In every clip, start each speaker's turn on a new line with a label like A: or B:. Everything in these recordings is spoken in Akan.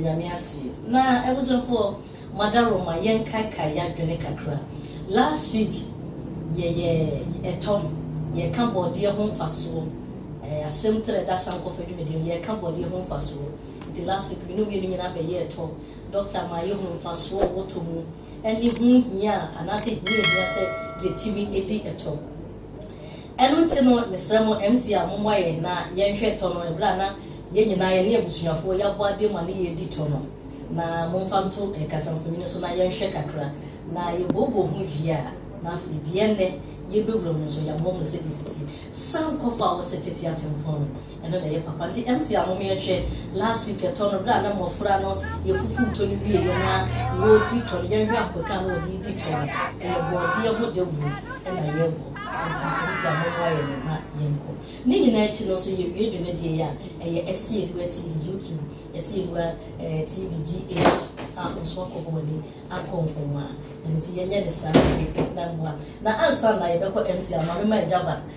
A: Nyame ase. Na abusuafoɔ mo adaworo ma yɛn kaekae yadwene kakra. Last week yɛ yɛ ɛtɔ yɛ ka bɔɔdeɛ ho nfasoɔ ɛɛ asem tire da sankɔfa dwumadie no yɛ ka bɔɔdeɛ ho nfasoɔ nti last week me ne omienu nyinaa bɛ yɛ ɛtɔ doctor ma yɛ hu nfasoɔ ɔwɔ tɔ mu ɛne ho hia anaasɛ hia ɛhia sɛ yɛ timi ɛdi ɛtɔ. Ɛno nti no mesrɛ mo MC a mommoa yɛn na yɛnhwɛ tɔ no ɛberɛ a na yɛn nyinaa yɛne abusuafoɔ yɛabɔ adeɛ mu a ne yɛredi tɔ no. Na momfa nto kasamfonini so na yɛnhwɛ kakra. Na yɛbooboo ho wie a na afei deɛ ɛnnɛ yɛbɛwura mu nso yɛamoamoa sɛdeɛ ɛsiteɛ. San kɔ fa wo sɛ tete atempɔn no. Ɛno na ɛyɛ papa nti MC a mom yɛnhwɛ last week ɛtɔ no berɛ a na mmɔfra no yɛfufu ntɔ no wieɛ na wɔdi tɔ no yɛnhwɛ ankwɛka a na wɔde redi tɔ no ɛyɛ bɔɔdeɛ ho dawuro na yɛrebɔ nti MC a mommoa yɛn no ma yɛnkɔ ne nyinaa akyi no nso yɛwie dwumadie yi a ɛyɛ Asiedua TV YouTube Asiedua TV GH a wo nso wakɔ hɔ w'ani akɔ nkonwa ɛno nti yɛnyɛ ne saa na mmoa na ansa na yɛbɛkɔ MC a ma mema agya ba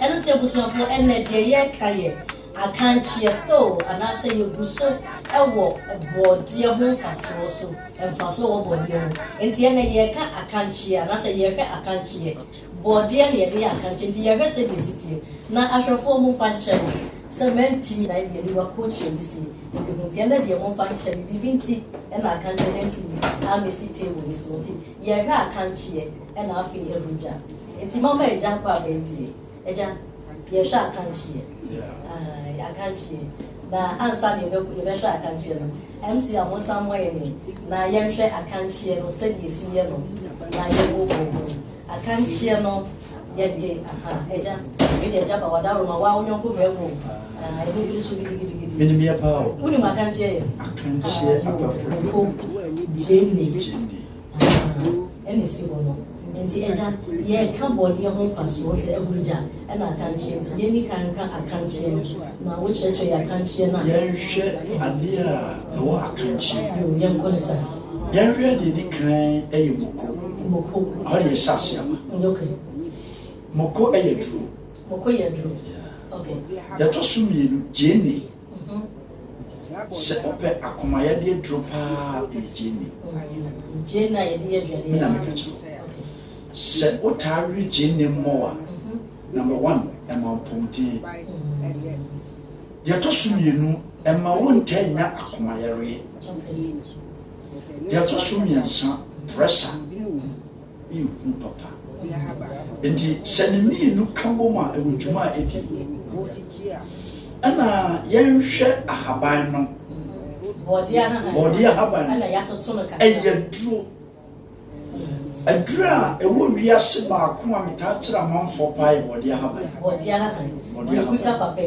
A: Ɛno nti abusuafoɔ ɛnnɛ deɛ yɛreka yɛ akankyeɛ still anaasɛ yɛgu so wɔ bɔɔdeɛ ho mfasoɔ so, mfasoɔ wɔ bɔɔdeɛ ho nti ɛnnɛ yɛreka akankyeɛ anaasɛ yɛrehwɛ akankyeɛ, bɔɔdeɛ na yɛde yɛ akankyeɛ nti yɛrehwɛ sɛdeɛ ɛsi teɛ na ahwɛfoɔ momfa nkyɛ me sɛ mantumi na ɛdeɛ aniwa kokyerɛ me sei ɛbi ho nti ɛnnɛ deɛ momfa nkyɛ me biribi nti na akankyeɛ no antumi ammɛsi table no so nti yɛrehwɛ akankyeɛ. ɛna afei abu gya nti mama agya akɔ abɛntie agya yɛhwɛ akankyeɛ akankyeɛ na ansa na yɛbɛhwɛ akankyeɛ no mc a mo nsa mmɔ yɛ ne na yɛnhwɛ akankyeɛ no sɛdeɛ ɛsi yɛ no na yɛbɔ bɔ ho akankyeɛ no yɛde aha agya ɛde agya ba wada roma wa wonyɔnko bɛɛbo ɛne biri so gidigidigidi menim yɛ paa o
B: wonim akankyeɛ yɛ
A: akankyeɛ
B: atɔfo
A: gyene Asabow na esi hɔ no. Enti agya, yɛreka bɔne ho mfasoɔ sɛ ahuru gya na akankyeɛ nti, yɛnni kan nka akankyeɛ no, na wokyerɛkyerɛ yɛn akankyeɛ no a. Yɛnhwɛ
B: adeɛ a ɛwɔ akankyeɛ. Yoo, yɛnkɔ no saa.
A: Yɛnhwɛ deɛ
B: ɛdi kan yɛ moko. Moko. Ɛhɔ na yɛhyɛ aseɛ aba. Mm, ok.
A: Moko
B: yɛ aduro. Moko yɛ aduro. Yeah.
A: Ok. Deɛ ɛtɔ
B: so mmienu, gyeene. Sɛ wopɛ akoma yadeɛ duro paa ɛyɛ gyeene. Gyeene a yɛde yɛ aduane.
A: Me na meka kyerɛ wo.
B: Sɛ wotaa we gyeene mmɔwa, number one, ɛma mpɔmuden. Deɛ ɛtɔ so mmienu, ɛma wontaa nnya akoma yareɛ. Deɛ ɛtɔ so mmiɛnsa, pressure. nhu papa. Nti hyɛ ne mmienu ka bom a ɛwɔ dwuma a ɛdi mu. Ɛna yɛnhwɛ ahaban no. Bɔɔdeɛ ahaban no
A: ɛyɛ duro.
B: Aduro a ɛwɔ wiase baako a metaa kyerɛ amanfoɔ paa yɛ bɔɔdeɛ ahaban. Bɔɔdeɛ ahaban.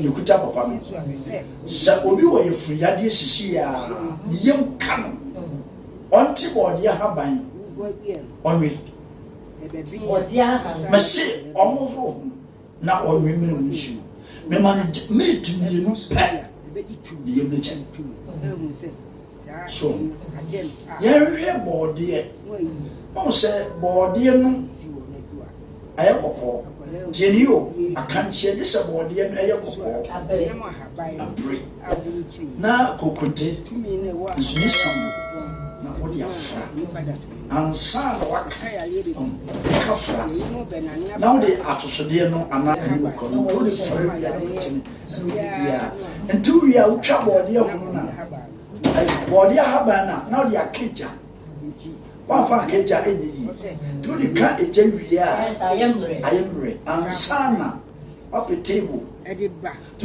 B: Yɛkuta papa no. Sɛ obi wɔ yɛfunu yadeɛ sisi a, ne yam ka no. ɔnte bɔɔdeɛ haban ɔnwe. Mese ɔmohoro ho na ɔnwe mmere mu nsuo. Mema no miniti mmienu pɛ ne yam no kyɛ. So yɛnhwɛ bɔɔdeɛ, ɔhu sɛ bɔɔdeɛ no Ayɛ kɔkɔɔ. Tie no yie o, akankyeɛ gye sɛ bɔɔdeɛ no yɛ kɔkɔɔ, abire, na kokonte nso yɛ sammo na wode afra ansa na woaka nka fra na wode atosodeɛ no anaa ɛne bɔkɔ no to ne fra wia no mutene ɛne wode biara nti wie a wotwa bɔɔdeɛ ho no na bɔɔdeɛ ahaban no a na wode aka gya Wamfa anka agya nyɛ yie. Nti wode ka agya wie a, ayɛ mmerɛ ansa na wapɛ table. Nti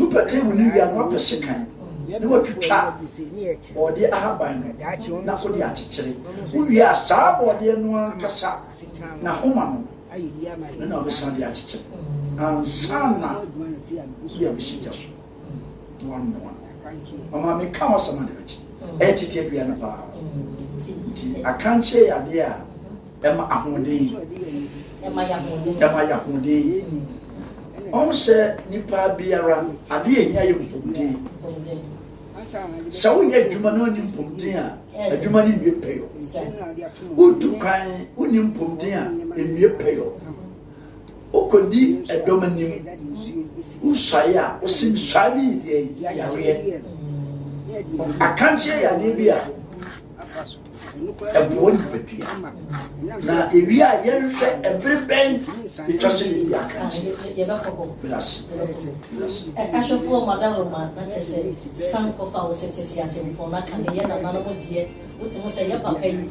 B: wopɛ table no wie a na wapɛ sekan na watwitwa bɔɔdeɛ ahaban no na wode akyekyere. Wowie a saa bɔɔdeɛ no ankasa na homa no no na wobɛsan de akyekyere ansa na wode abɛsi gya so. mmoammoa ɔma meka ho asɛm ade bɛkye ɛyɛ tete adua no paa nti akankyerɛ yɛ adeɛ a ɛma ahoɔden
A: ɛma yɛ
B: ahoɔden ɔho sɛ nipa biara adeɛ ɛhia yɛ mpɔmuden sɛ woyɛ adwuma no ɔne mpɔmuden a adwuma no nwie pɛyɔ wotu kwan wone mpɔmuden a ɛnwie pɛyɔ Wokɔdi dɔm anim, wosuae a, wose mesuae no yɛ deɛn? Yareɛ. Akankyeɛ yɛ adeɛ bi a ɛboa nipadua. Na ɛwie a yɛnhwɛ ɛbere bɛn ɛtwa sɛ yɛdi akankyeɛ. Medase.
A: Medase. Ahwɛfoɔ Madaroma na kyɛ sɛ san kɔfa wo sɛ tete atempɔn na ka ne yɛ nananom deɛ wote ho sɛ yɛ papa yi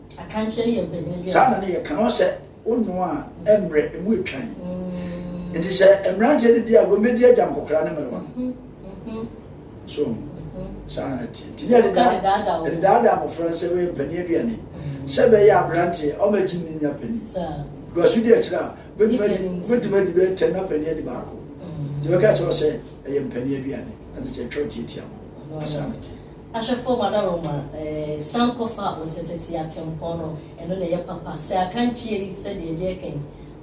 A: saa na ne yɛ ka no sɛ
B: wonnoa a ɛmmerɛ ɛmu ɛtwan mm. nti sɛ mmeranteɛ no di a wɔmmɛdi agya nkɔkora ne mmerewa mm-hmm. mm-hmm. so mm-hmm. saa na teɛ nti ne ɛdedaadaa mmɔfra sɛ wɔyɛ mpani aduane sɛ bɛyɛ aberanteɛ ɔmagye ne nya pani duaso di akyirɛ a bɛtumi adi bɛyɛ tɛm na pani adi baako deɛ bɛka kyerɛ sɛ ɛyɛ mpani aduane ɛde kyɛ twɛ tiatia ho asaa no teɛ Ahwɛfoɔ mu anarom
A: a, san kɔfa wo setete atempɔn no, ɛno na ɛyɛ papa. Sɛ akankyie yi, sɛdeɛ ɛdeɛ kɛn,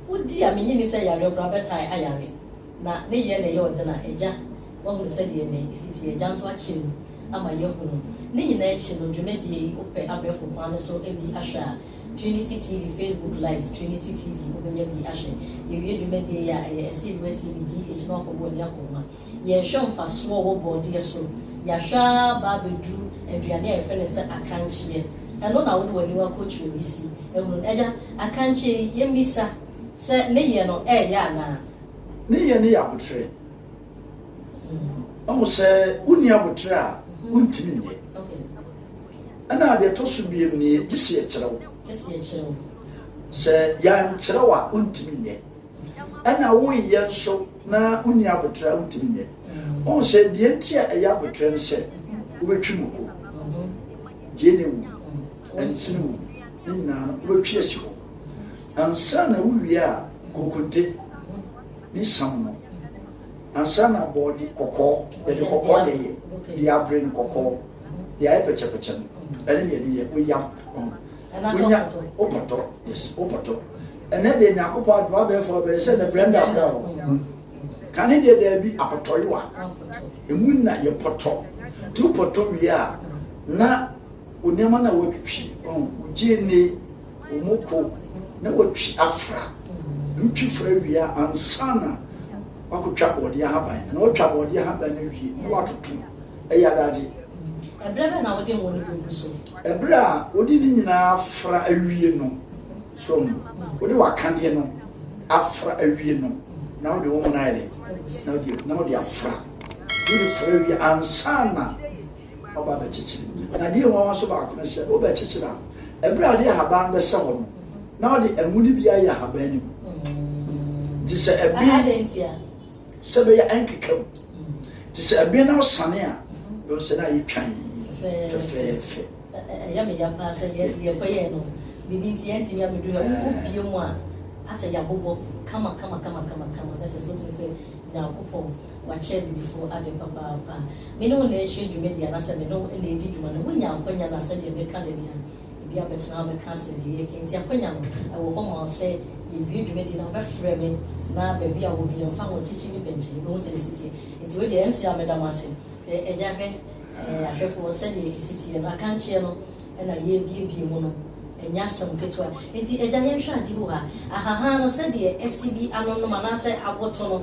A: wodi a, mennye nni sɛ yareɛ koraa bɛtae ayare, na ne yɛ na ɛyɛ ɔden a, agya, woahunu sɛdeɛ ɛnnɛ ɛsi teɛ, agya nso akyɛ mu ama yɛahunu. Ne nyinaa akyi no, dwumadie yi, wopɛ abɛɛfo kwan no so bi ahwɛ a, Trinity TV Facebook Live, Trinity TV, wobɛnya bi ahwɛ. Yɛwie dwumadie yi a, ɛyɛ ɛsɛ yɛde wo atie bi GH na woakɔbɔ w'ani akɔ mu a. Yɛnhwɛ mfasoɔ a ɛwɔ bɔɔdeɛ so. Yɛahwɛ ara ba abɛduru aduane a yɛfrɛ no sɛ akankyeɛ. Ɛno na wobɔ ani wa kɔtwerɛ wisi hunu. Agya, akankyeɛ yi, yɛmmisa sɛ ne yɛ no ɛreyɛ anaa? Ne yɛ no yɛ
B: aboterɛ. Wahu sɛ wonni aboterɛ a, wontumi nyɛ. Ɛna deɛ ɛtɔ so mmienu nie, gye sɛ yɛkyerɛ wo. Sɛ yɛankyerɛ wo a, wontumi nyɛ. Ɛna wonyɛ nso na wonni aboterɛ a wontumi nyɛ. Wohu sɛ deɛ nti a ɛyɛ aboterɛ ne sɛ wobɛtwi moko, gyeene wom, ɛnsene wom, ne nyinaa no wobɛtwi asi hɔ. Ansa na wowie a kokonte ne sam no, ansa na bɔɔde kɔkɔɔ, yɛde kɔkɔɔ na ɛyɛ, deɛ abere no kɔkɔɔ, deɛ ayɛ pɛkyɛpɛkyɛ no, ɛne deɛ ɛde yɛ woyam. wonya wo pɔtɔ yes wo pɔtɔ ɛnɛ deɛ nyankopɔn adoma abɛɛfoɔ bɛde sɛ ne brɛnda kora hɔ kane deɛ daabi apɔtɔyewa ɛmu na yɛ pɔtɔ nti wo pɔtɔ wie a na wo nneɛma no a woatwitwi wogye ne wo mu ko na watwi afra ntwi fra wie a ansa na wakɔtwa bɔɔdeɛ ahaban na watwa bɔɔdeɛ ahaban no wie na watoto ɛyɛ adagye. Ɛberɛ
A: bɛn na wode ngo no bɛgu so? Ɛberɛ a wode
B: ne nyinaa afra awie no, so no, wode w'akadeɛ no afra awie no, na wode wo ngo no ayɛ dɛ? Na wode, na wode afra. Wode fra awie ansa na waba abɛkyekyere. Na deɛ nwanwa nso baako ne sɛ, wobɛkyekyere a, ɛberɛ a wode ahaban no bɛsɛ hɔ no, na wode ngo no bi ayɛ ahaban no mu. Nti sɛ ɛben. Adɛn ntia? Sɛ bɛyɛ ɛnkeka mu. Te sɛ ɛbɛn na ɔsane a, bɛhu sɛ na ayɛ twann fɛfɛɛfɛ. Ɛyɛ
A: me ya paa sɛ yɛkɔyɛɛ no, biribi nti yɛantumi abɛduru ha. Wobie mu a, asɛ yɛabobɔ kama kama kama kama kama. Ɛsɛ sɛ wotim sɛ Nyankopɔn wakyɛ abibifo ade papaapa. Me ne wo na ɛrehyɛ dwumadi anaasɛ me ne wo na ɛredi dwuma no, wonya akwannya no a, sɛdeɛ meka da biara, Obi abɛtena hɔ abɛka asɛnnennen yi, enti akwanya no wɔ hɔ ma wo sɛ yɛwie dwumadi no a, wobɛfrɛ me na baabi a wɔ biara, ɛmfa ho ɔkyekye ne bɛnkye no, wobɛhu sɛdeɛ ɛsi teɛ. Enti wei deɛ, ɛnte a meda mo ase. Agya hwɛ ahwɛfoɔ sɛdeɛ ɛsi teɛ no, akankyeɛ no na yɛrebiebie mu no, ɛnyɛ asɛm ketewa. Enti agya yɛnhwɛ adeɛ bi wɔ ha, ahahan no sɛdeɛ asi bi anonom anaasɛ aboto no.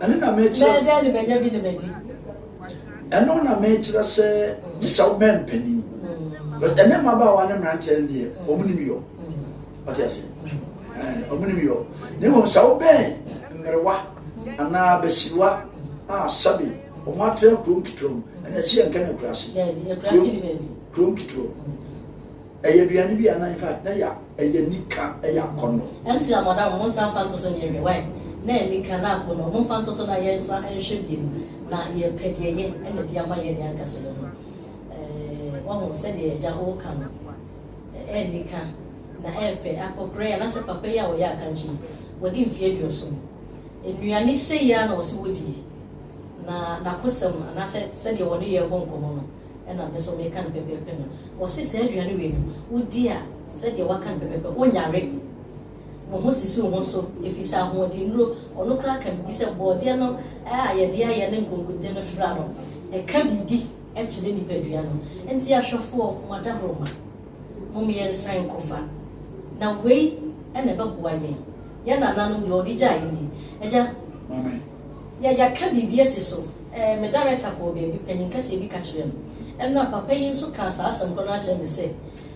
A: Ɛno na
B: mekyerɛ sɛ.
A: Mɛdɛn
B: ne manya bi ne madi. Ɛno na mekyerɛ sɛ gye sɛ wobɛn mpanin. Because ɛnɛ mmabaawa ne mmeranteɛ no deɛ wɔn nim yɔ. Ɔte ase. Wɔn nim yɔ. Na mmom sɛ wobɛn mmerewa anaa abasiriwa a sɛbe wɔn atena kurom ketewa mu ɛna ɛsɛ yɛn ka no akuraase. Daabi, akuraase ni
A: baabi. Kurom ketewa mu.
B: Ɛyɛ aduane bi a na infact na yɛ ɛyɛ nika ɛyɛ akɔnɔ. MC a madam mo
A: nsa mfa nto so nyɛ hwɛ wai na yɛ nika na akɔnɔ mo mfa nto so na yɛ nsa nhwɛ biom na yɛ pɛ deɛ yɛ ɛna di ama yɛ deɛ ankasa yɛ ho eh wahu sɛdeɛ agya o ka no ɛyɛ nika na ɛyɛ fɛ akɔkorɛ yɛ anasɛ papa yi a ɔyɛ akankye yi wadi mfie aduoson nnuane sei a na ɔse wodie na nakosɛm anasɛ sɛdeɛ ɔne yɛ bɔ nkɔmɔ no. ɛna me nso meka no pɛpɛɛpɛ no. Wɔse saa aduane wei no, wodi a, sɛdeɛ woaka no pɛpɛɛpɛ, wonyare. Wo ho sisi wo ho so, ɛfiri sɛ ahoɔdennuro, ɔno koraa ka biribi sɛ borɔdeɛ no a yɛde ayɛ ne nkonkonte no fra no, ɛka biribi kyerɛ nipadua no. Enti ahwɛfoɔ, mo adaworoma, mom yɛnsan nkɔfa. Na wei na ɛbɛboa yɛn. Yɛn nananom deɛ wɔde gyaa yɛn nie. Agya. Maame.
B: Yɛ yɛka
A: biribi asi so. Ɛɛ, me darekta kɔɔ baabi, panyin kɛseɛ bi ka kyerɛɛ me ɛno a, papa yi nso kaa saa asɛm korɔ no ara kyerɛɛ me sɛ,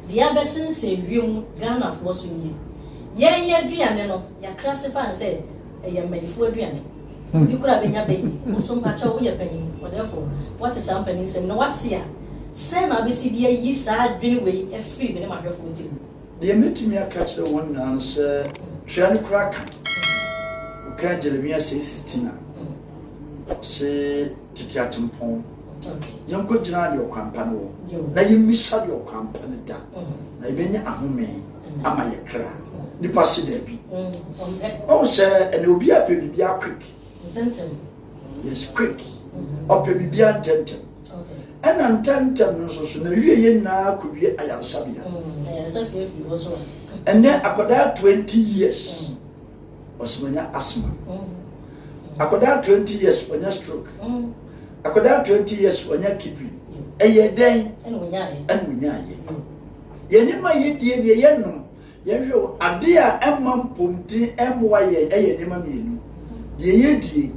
A: Deɛ abɛsensɛn wiem Ghanafoɔ so nie. Yɛn yɛn aduane no, yɛakra ase paa sɛ ɛyɛ mmanyifoɔ aduane. Obi koraa bɛnya bɛ yi. Wo nso mpakyɛw, woyɛ panyin, ɔdɛɛfoɔ, woate saa mpanin nsɛm yi na woate a, sɛn na wobɛsi de ayi saa adwene wei afiri me ne m'ahwɛfoɔ tirim? Deɛ mɛtumi
B: aka akyerɛ wɔn nyinaa no sɛ twea no kura ka. Wokaa Jeremia sɛ si tina. Ɔse tete atempɔn. Yɛnkɔ gyina deɛ ɔkwan pa no wɔ na yɛmmisa deɛ ɔkwan pa no da na yɛbɛnya ahome ama yɛ kra. Nipa se daabi. Ɔhu sɛ ɛnɛ obi apɛ biribiara quick.
A: Yes,
B: quick. Ɔpɛ biribiara ntɛntɛm. Ɛna ntɛmntɛm no nso so na wie yɛ nyinaa kɔ wie ayaresabea.
A: Ɛnɛ akwadaa
B: 20 years ɔsɛmanya asma. Akwadaa 20 years ɔnya stroke. Akwadaa 20 years ɔnya kidney. Ɛyɛ dɛn? Ɛna
A: ɔnya ayɛ.
B: Yɛn nneɛma yɛ die deɛ yɛ nom Yɛnhwɛ o, ade a ɛmma mpɔmuden mmoa yɛn yɛ nneɛma mmienu, deɛ yɛdie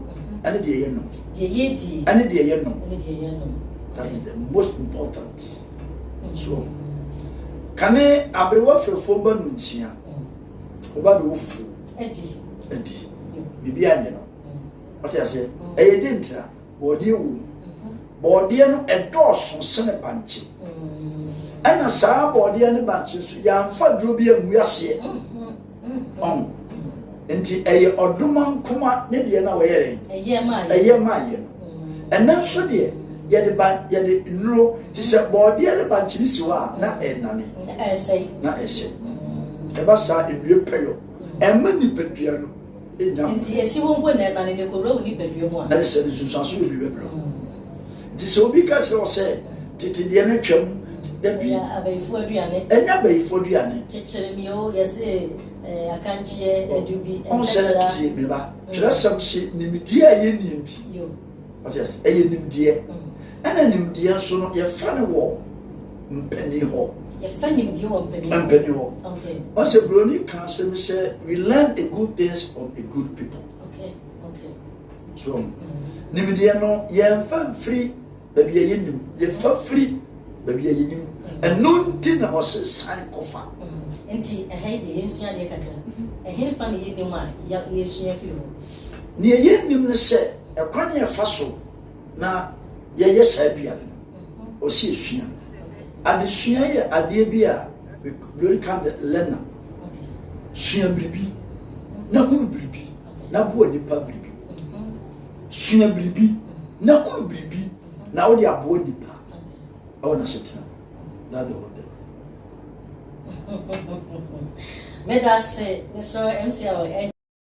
B: ɛne deɛ yɛnom. Deɛ yɛdie ɛne deɛ yɛnom. Ɛne deɛ yɛnom. That is the most important. Mm. So, kane aberewa fɛfoɔ ba no nkyia, ɔba mm. bɛwɔ fufuo. Adi. Adi. Biribi anyɛ no. Ɔte mm. aseɛ. Ɛyɛ dentira. bɔɔdeɛ wɔ mu bɔɔdeɛ no ɛdɔɔso sene bankye ɛna saa bɔɔdeɛ ne bankye so yɛamfa duro bi angu aseɛ ɔn nti ɛyɛ ɔdoma nkoma ne deɛ na wɔyɛ dɛn ɛyɛ maayɛ no ɛnɛ nso deɛ yɛde ba yɛde nnuro te sɛ bɔɔdeɛ ne bankye ne si hɔ a na ɛnane na ɛsɛ ɛba saa nnue pɛyɔ ɛma nipadua no Enya. Nti yɛhye
A: wo mpo na ɛnane na ɛkɔwura wo nipadua mu a. Ɛne sɛ, ne nsunsuanso yɛ
B: biribi brɛ wo. Nti sɛ obi ka kyerɛ wo sɛ, Tete deɛ no twam, da bi. Ɛnyɛ abayifoɔ aduane.
A: Ɛnyɛ abayifoɔ aduane.
B: Kyekyere me o, yɛse
A: eh, akankyeɛ, adu bi, ɛnkyɛkyera. Ɔnsɛ, tie
B: me ba, twerɛsɛm se, nimdeɛ a ɛyɛ nie nti. Yo. ɔte
A: ase ɛyɛ
B: nimdeɛ ɛna nimdeɛ nso no yɛfa no wɔ mpanyin hɔ yɛfa nimdeɛ
A: wɔ mpanyin hɔ
B: mpanyin hɔ ɔsɛ buroni
A: kan
B: sɛ mi sɛ we learn a good things from a good people okay okay so mm. nimdeɛ no yɛnfa mfiri baabi a yɛnim yɛfa firi baabi a yɛnim mm. ɛno nti na ɔsɛ san kɔfa mm. nti ɛha
A: yi deɛ yɛnsua adeɛ kakra ɛhe fa na yɛnim a yɛsua firi hɔ Nea yennim
B: ne sɛ ɛkwan a yɛfa so na yɛyɛ saa aduane no, ɔsi esua. Adesua yɛ adeɛ bi a Lori ka de lɛna. Sua biribi, na hunu biribi, na boa nipa biribi. Sua biribi, na hunu biribi, na wode aboa nipa ɛwɔ n'asetena. That the whole thing.
A: Meda se, Mr. MC.